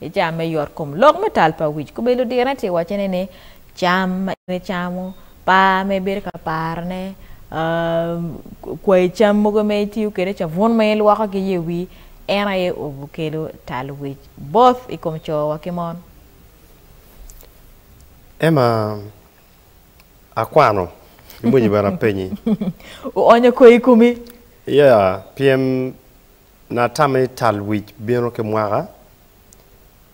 I caa me yot kom lok me tal pa wic, kobedi ludirane tye waco ne ni cam ma en icamo, par ma ibedo ka paro ne, kwayi cam mogo ma itiyo kwede, cabun ma ilwoko ki ye wii, en aye obu kelo tal wic both i kom coo wa ki mon. Emma, akwano ki bwonyi bene apenyi. Uonyo koi i komi? Yeah, pyem Na tamo ni tal wic bino ki mwaka,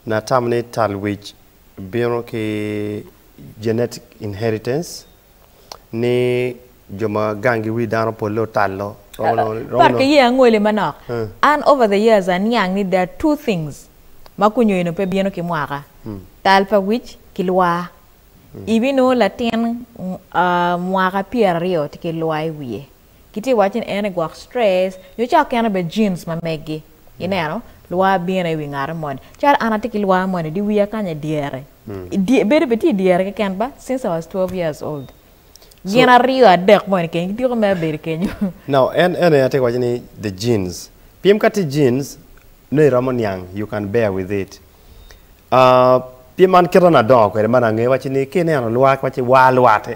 Na tamo ni tal wic bino ki genetic inheritance, ni jo ma gangi wi dano polle otalo, romo nongo ni, romo Pat ki nongo. ye angoli manok. An over the years aniang ni there are two things ma kunyo eno pe bino ki mwaka, tal pa wic ki lwar. Ibinongo latin mwaka pyeraryo tye ki lwar i wiye. Kitye ka waco ni en aye gwok stress nyo ca oken obed genes ma meggi. Ineno? Lwar bino i wi ngati moni. Calo an atye ki lwar moni di wiya kany aye dyere. Dye, bedo bene tye dyere keken ba, since I was 12 years old. Gin aryo adek moni keken gitiko mere bedo kenyo. Now, en en aye atye ka waco ni the genes. Pien ka tye genes, nongo iromo niang, you can bear with it. Pien man kite na adongo kwede ma angeyo wacci ni ka ineno lwak wacci waa lwat,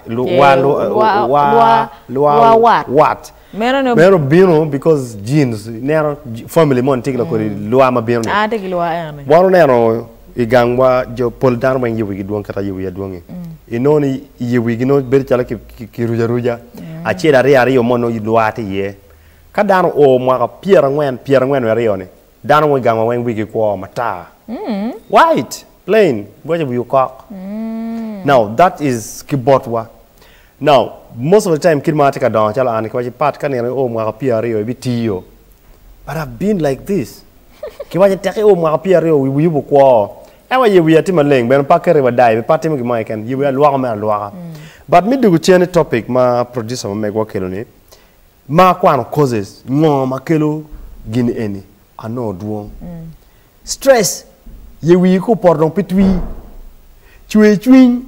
waa wat meno bino because genes ineno family moni tye ki kodi lwaa ma bino ni wan oneno i gangwa jo pol dano weng ye wigi dwong kit ma yer wiya dwongi inongo ni ye wigi nongo bedo calo ki ruco aruca acel aryo aryo mo nongo lwaa tye iye ka dano oo mwaka pyerangwen pyerangwen wiye aryo ni Dano mo i gangwa weng wigi kwo, matar, white, plain, guwaco wi okok. Now that is ki botwa. Now most of the time kit ma atye ka dongo calo an kiwaco Pat ka nino io mwaka pyera aryo ibi tiyo but I've been like this kiwaco tek io mwaka pyera aryo wi wiyi obu kwo oo en wa ye wiya tye maleng bene pe aketo iwa dai bene pe atimo gimo keken ye wiya alwoko mere alwoka but me dwogo cen i topic ma producer ma megwa okelo ni Ma akwano causes ngo ma kelo gin eni anongo dwong. Stress, ye wii ko poto dong pe twii. Cwer cwiny.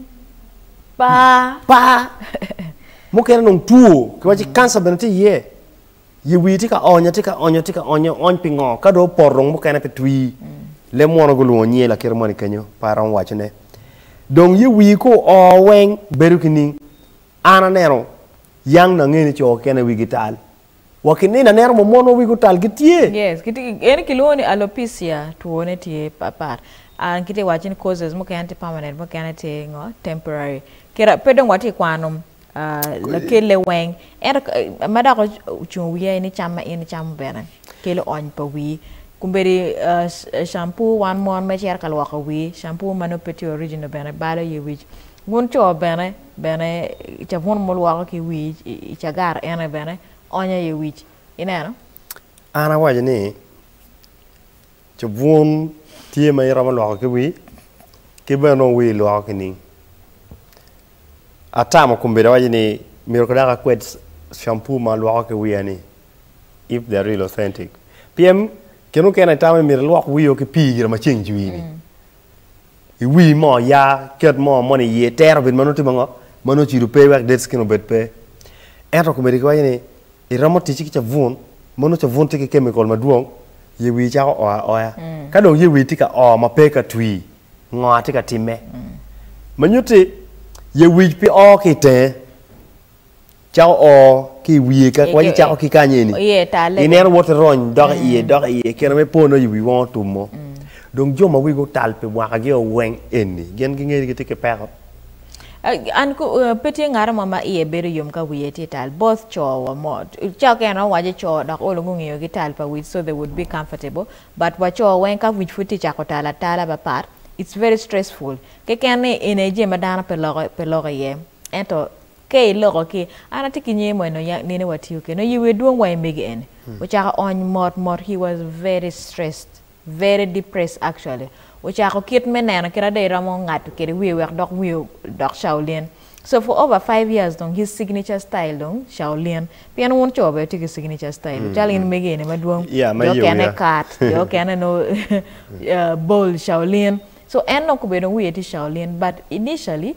Paa. Paa. Mukene dong two, kiwaci cancer bene tye iye. Ye wii tye ka onyo, tye ka onyo, tye ka onyo, ony pi ngo? Ka dong opoto dong mukene pe twii. Leb mwono gulwongo nyi lakite moni kenyo, pe aromo wacone. Dong ye wii ko oo weng, bedo ki ning. An aneno yang nangeni co kene wigi tal, wa ki nino aneno mo monwa wigi otal gitye. Yes gitye ki eni kilwongo ni alopecia two ne tye pat pat and kitye waco ni causes mukene tye permanent mukene tye ngo temporary kira pe dong watye kwano lakele weng ento ma dok ocungo wiya aye ni cam ma in icamo bene kelo ony pa wii kombedi shampoo wan mon ma icito ka lwoko wii shampoo ma nongo pe tye original bene balo iye wic wun co bene. Bene, cabun mulwoko ki wic i cagar ene bene onyo iye wic. Ineno? An awaco ni, cabun tye ma iromo lwoko ki wii, ki bene nongo wii ilwoko ki ning? Atamo kombeddi awaco ni myero dok akwed shampoo ma alwoko ki wiya ni, if the real authentic. Pien kine mukene itamo ni myero ilwok wii o ki pii gira ma ceng cwii-ni. I wi mo ya ket mo moni iye tero obedo ma nongo timo ngo ma nongo cido pe wek dead skin obed pe ento komiti giwaco ni iromo ticci ki cabun ma nongo cabun tye ki chemical madwong ye wii cako oo aoya ka dong ye wii tye ka oo ma pe ka twii ngo atye ka timme ma nyutti ye wii pe oo ki itenge. Cako oo ki i wiye, ka kwanyi cako ki kany eni. I neno woto rony dok i iye, dok i iye, keno me po noyo wi wong otum mo. Dong jo ma wigi otal pi mwaka gi o weng eni, gin gingeyo ni gitye ki peko. An ku, pe tye ngaro mo ma iye bedo yom ka wiye tye tal, both co wa mo, cako ka en o waco co dok olo gungeyo gi tal pa wic so they would be comfortable, but wa co weng ka wic pud tye cako tal atala ba pat, it's very stressful. Keken ni eni aye jami ma dano pe loko, pe loko iye. Ento. Ka iloko ki, An atye ki nyer mo eno ya nene watiyo kede nongo yiwi dwong wa imege ene ocako ony mot mot he was very stressed very depressed actually ocako kit me neno kit ada iromo ngato kede wiye wek dok wiye odok Shaolin so for over five years dong his signature style dong Shaolin pien wun co bene wutye ki signature style wu calo in mege ene madwong Yeah, ma jo iye okene wiya. kat jo okene no uh, bold Shaolin so en dong kobedo dong wiye tye Shaolin but initially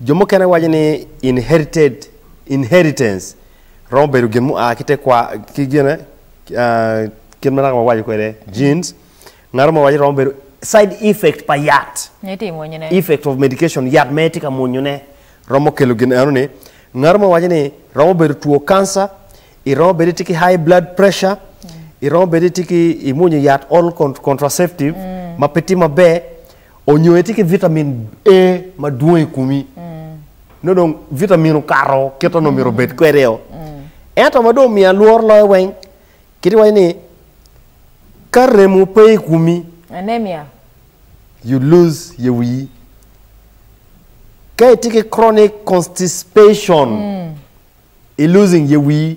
Jo mukene waco ni inherited, inheritance, romo bedo gin mua ki tekwa, ki gine, kit ma naka wawaco kwede, genes. Ngato mo waco romo bedo side effect pa yat, effect of medication, yat ma itye ka mwonyo ne romo kelo gin eno ni. Ngato mo waco ni romo bedo two cancer, i romo bedo itye ki high blood pressure, i romo bedo itye ki imwonyo yat all contraceptive ma pe tye maber. Onyo itye ki vitamin A madwong i komi, nongo dong vitamin okato kit onongo myero obed kwede-o. Ento ma dong omiya lworo loyo weng, kit iwaco ni ka remo pe i komi, Anemia. you lose your wi. Ka itye ki chronic constipation, I losing your wii,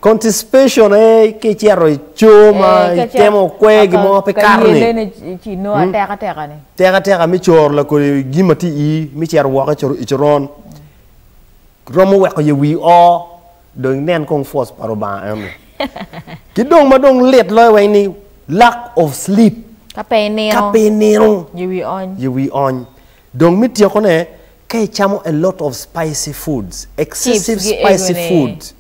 constipation aye ka icito i coo ma Eh, ka ca- itemo kwe aka- gin mo pe ka kato ni yelene ci- ci no ateka teka ni teka teka me coro lakodi gin ma tye i ii me cito woko i cor- i coron romo weko ye wii oo dong inen kong force pa Lubanga en ni ki dong ma dong lit loyo weng ni lack of sleep ka pe inino ka pe inino ye wii ony ye wii ony Dong me tyekone, ka icamo a lot of spicy foods, excessive spicy foods.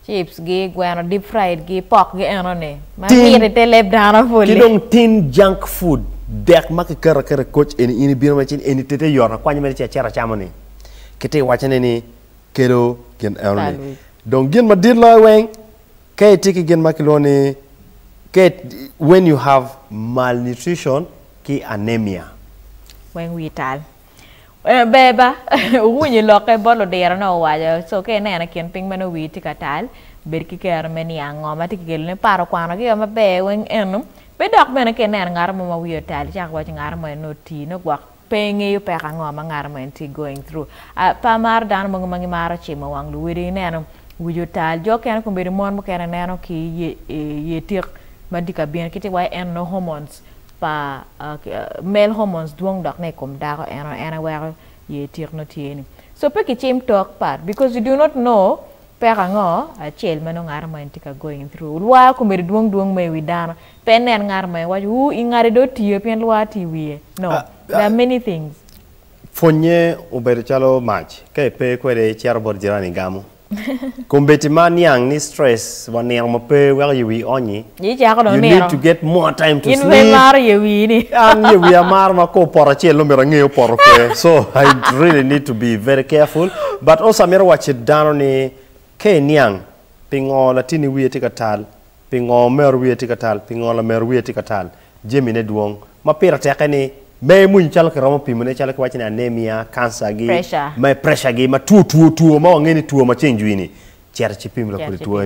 Chips gi, gweno deep fried gi, pork gi eno ni, ma mit i te leb dano pole. Ki dong tin junk food, dek ma ki keto aketa koc eni in ibino mere cen eni tete yoto akwanya mere ci aceto acamo ni, ki ti iwaco ne ni kelo gin eno ni. Dong gin ma dit loyo weng, ka itye ki gin ma ki lwongo ni, ka when you have malnutrition ki anemia. Weng wii tal. Ber ba owinyo lokke bot ludiro ne owaco so ka ineno kin piny meno wii tye ka tal bed ki kero me niang ngo ma tye ki kelo ne par okwano gi o maber weng eno pe dok bene ka ineno ngato mo ma wii otal icako waco ngato mo eno oti no gwok pe ingeyo peko ango ma ngato mo eno tye going through a pe amaro dano mogo ma gimaro cimo wang luwodigi ineno wii otal jo okene kun bedo mon mukene ineno ki ye tik ma tye ka bino ki ti waco eno hormones. pa male hormones dwong dok ne ikom dako en en aye weko yer tik nongo tye ni so pe kicim talk part because you do not know peko ango acel ma nongo ngato ma en tye ka going through lwar omedo dwong dwong ma iwi dano pe inen ngato ma iwaco wu ingade do otiyo pien lwar tye iwiye no there are many things. Pwonye obedo calo mac ka ipe kwede icito bot jirani igamo. Kombeddi ma niang ni stress wa nino ma pe weko ye wii onyi. Icako dong nino. You need to get more time to sleep. In pe imaro ye wii ni. An ye wii amaro ma ko poto acel no mito ange opoto kwe. So I really need to be very careful. But also amito wacci dano ni ka iniang pingo latini wiye tye ka tal. Pingo omero wiye tye ka tal? Pingo lamero wiye tye ka tal? Jamine dwong. Ma pire teke ni me emwony calo kiromo pimone calo kiwaco ni anemia, kanca gi, Pressure. me pressure gi ma two two two ma wangeyo ni two maceng jwi ni, cito ci pim lakwede two eni.